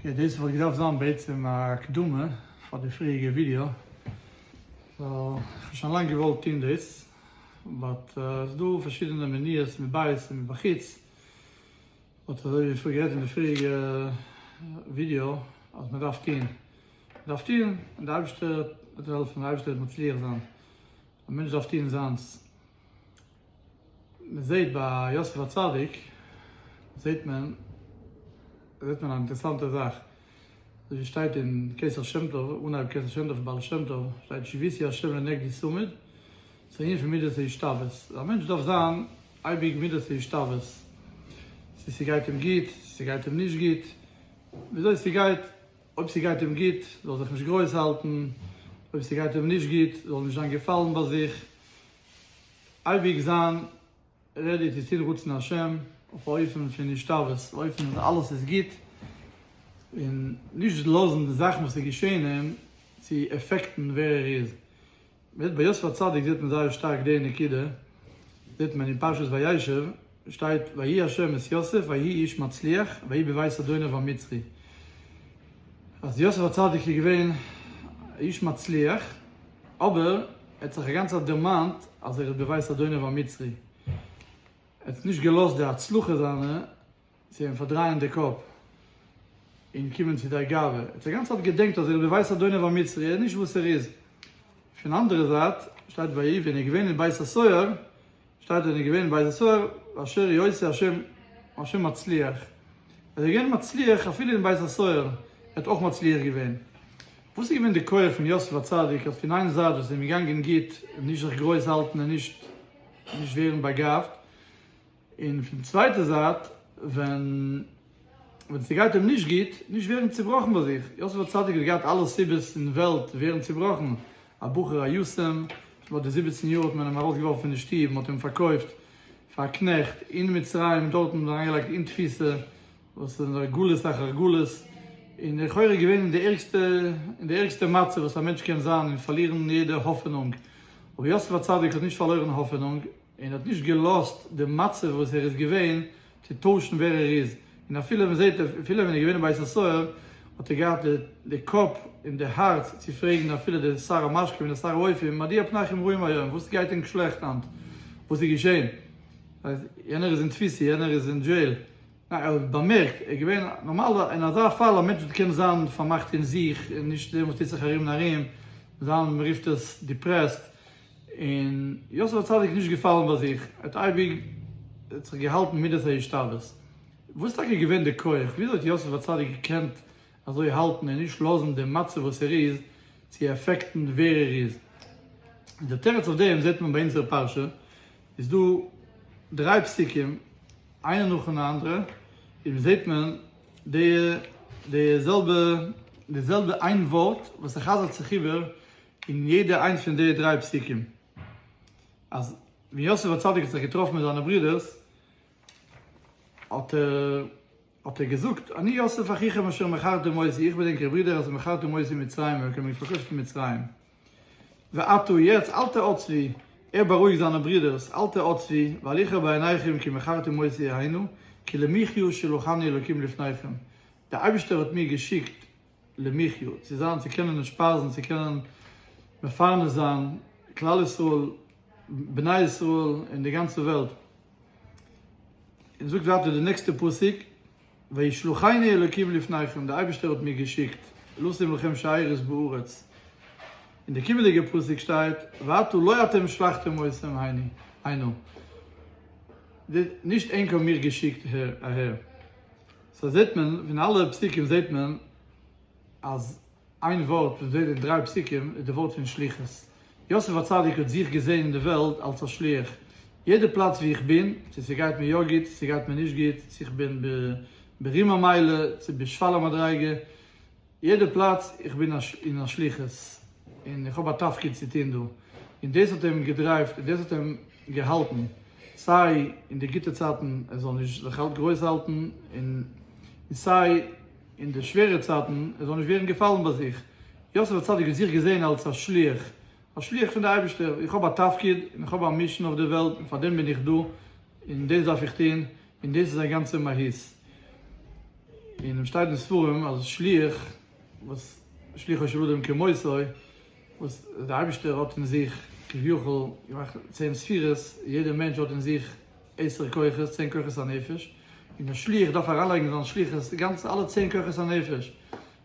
אקעי דאס וואלט געדארפט זיין בעצם א הקדמה פאר די פריעריגע ווידיאו, כ'האב שוין לאנג געוואלט טוהן דאס, באט ס'איז דא פארשידענע מניעות מבית און מבחוץ, באט אזוי ווי פאר גערעדט אין די פריעריגע ווידיאו אז מען דארף טוהן, מען דארף טוהן און די אייבערשטער וועט העלפן, די אייבערשטער וועט מצליח זיין, א מענטש דארף טוהן זיינס. מען זעט ביי יוסף הצדיק זעט מען זעט מען א אינטערעסאנטע זאך אזוי ווי שטייט אין כסא שם טוב אנהייב כסא שם טוב בעל שם טוב שטייט שיבותי השם לנגדי צמיד ס'איז א ענין פון מדת ההשתוות א מענטש דארף זיין אייביג מדת ההשתוות צו ס'גייט אים גוט צו ס'גייט אים נישט גוט וויאזוי ס'גייט אויב ס'גייט אים גוט, זאל זיך נישט גרויס האלטן, אויב ס'גייט אים נישט גוט, זאל נישט זיין געפאלן ביי זיך, אייביג זיין רעדי צו טון רצון השם, אויף א אופן פון השתוות, א אופן אז אלעס איז גוט, און נישט לאזן די זאכן וואס איז געשען אים צו עפעקטן ווער ער איז, בעת ביי יוסף הצדיק זעט מען זייער שטארק די נקודה, זעט מען אין פרשת וישב שטייט ויהי השם את יוסף ויהי איש מצליח ויהי בבית אדוניו המצרי, אז יוסף הצדיק איז געווען א איש מצליח, אבער ער האט זיך א גאנצע צייט דערמאנט אז ער איז בבית אדוניו המצרי, ער האט נישט געלאזט די הצלחה זיינע, צו אים פארדרייען די קאפ און קומען צו דער גאווה. ער האט א גאנצע צייט געדענקט אז ער איז בבית אדוניו המצרי, ער איז נישט וואס ער איז. פון אנדערע זייט שטייט ביי איוב און איז געווען אין בית הסוהר, שטייט און איז געווען אין בית הסוהר ואשר היא עושה השם השם מצליח. אז ער איז געווען מצליח אפילו אין בית הסוהר, ער האט אויך מצליח געווען. וואס איז געווען די כח פון יוסף הצדיק אז פון איין זייט וואס עס איז אים געגאנגען גוט, נישט זיך גרויס האלטן און נישט נישט ווערן באגאבט, און פון די צווייטע זייט ווען ווען ס'גייט אים נישט גוט, נישט ווערן צובראכן ביי זיך, יוסף הצדיק האט געהאט אלע סיבות אין וועלט צו ווערן צובראכן, א בחור א יתום, ביי די זיבעצן יאר האט מען אים ארויסגעווארפן פון די שטוב, מען האט אים פארקויפט פאר א קנעכט אין מצרים, דארטן האט מען אים אריינגעלייגט אין תפיסה, וואס איז נאר גלות אחר גלות, און לכאורה געווען אין די ערגסטע אין די ערגסטע מצב וואס א מענטש קען זיין און פארלירן יעדע האפענונג, אבער יוסף הצדיק האט נישט פארלוירן האפענונג, און האט נישט געלאזט די מצב וואס ער איז געווען צו טוישן ווער ער איז, און אפילו ווען זעהט ער, אפילו ווען ער איז געווען אין בית הסוהר, האט ער געהאט די קאפ און די הארץ צו פרעגן אפילו די שר המשקים און די שר האויפים, מדוע פניכם רעים היום, וואס גייט ענק שלעכט היינט, וואס איז געשען, יענער איז אין תפיסה, יענער איז אין דזשעיל, ניין, ער האט באמערקט, ער איז געווען, נארמאל אין אזא פאל א מענטש וואס קען זיין פארמאכט אין זיך און נישט זעהן וואס טוט זיך ארום און ארום, זיין מען רופט עס דיפרעסט, און יוסף הצדיק איז נישט געפאלן ביי זיך, ער האט אייביג זיך געהאלטן מידת ההשתוות. וואס איז טאקע געווען די כח? וויאזוי האט יוסף הצדיק געקענט אזוי האלטן און נישט לאזן דעם מצב וואס ער איז צו עפעקטן ווער ער איז? און דער תירוץ אויף דעם זעט מען ביי אונזערע פרשה, איז דא דריי פסוקים איינע נאכן אנדערע, און מ'זעט מען די די זעלבע די זעלבע איין ווארט וואס ער חזר'ט זיך איבער אין יעדע איינס פון די דריי פסוקים אז ווען יוסף הצדיק האט זיך געטראפן מיט זיינע ברודערס האט ער האט ער געזאגט אני יוסף אחיכם אשר מכרתם אותי איך בין ענקער ברודער אשר מכרתם אותי מצרימה וועלכע האבן מיך פארקויפט אין מצרים ועתה יעצט אל תעו עצבי ער בארואיגט זיינע ברודערס אל תעו עצבי ואל יכר בעיניכם כי מכרתם אותי היינו כי למחיה שלחני אלוקים לפניכם דער אייבערשטער האט מיר געשיקט למחיה, צו זיין, צו קענען נשפרזן, צו קענען מפרנס זיין כלל ישראל, בני ישראל, און די גאנצע וועלט. און זאגט ווייטער די נעקסטע פסוק, וישלחני אלקים לפניכם, די אייבערשטער האט מיר געשיקט, לשים לכם שערות בארץ. אין די קומענדיגע פסוק שטייט, ואתו לא אתם שלחתם אותם הנה, נישט ענק האבן מיר געשיקט אהער. סא זעט מען פון אלע פסוקים זעט מען אז איין ווארט פון זיי די דריי פסוקים איז די ווארט פון שליחות. יוסף הצדיק האט זיך געזען אין די וועלט אלס א שליח. יעדע פלאץ ווי איך בין, צו ס'גייט מיר יא גוט צו ס'גייט מיר נישט גוט, צו איך בין ברום המעלה צו בשפל המדריגה, יעדע פלאץ איך בין אין א שליחות און איך האב א תפקיד צו טון דא, און דאס האט אים געדרייווט און דאס האט אים געהאלטן סיי אין די גוטע צייטן ער זאל נישט זיך גרויס האלטן און סיי אין די שווערע צייטן ער זאל נישט ווערן געפאלן ביי זיך, יוסף הצדיק האט זיך געזען אלס א שליח, א שליח פון די אייבערשטער, איך האב א תפקיד און איך האב א מישן אויף די וועלט און פאר דעם בין איך דא און דאס דארף איך טון און דאס איז זיין גאנצע מהות. און און שטייט אין ספרים אז שליח וואס שליחו של אדם כמותו, וואס דער אייבערשטער האט אין זיך כביכול געמאכט צען ספירות, יעדער מענטש האט אין זיך עשר כוחות, צען כוחות הנפש, און דער שליח דארף אריינלייגן זיין שליחות די גאנצע אלע צען כוחות הנפש,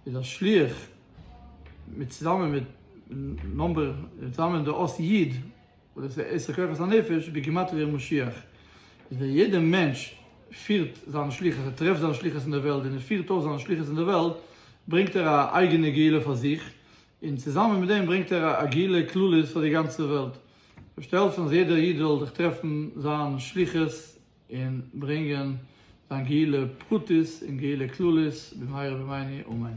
איז דער שליח מיט צוזאמען מיט נאמבער צוזאמען דער אות י'. און עס איז עשר כוחות הנפש בגימטריא משיח איז ווען יעדע מענטש פירט זיין שליחות ער טרעפט זיין שליחות אין די וועלט ווען ער פירט אויס זיין שליחות אין די וועלט ברענגט ער א אייגענע גאולה פאר זיך און צוזאמען מיט דעם ברענגט ער א גאולה כללית פאר די גאנצע וועלט זאל העלפן אז יעדער איד זאל זיך טרעפן זיין שליחות און ברענגען זיין גאולה פרטית און גאולה כללית במהרה בימינו אמן.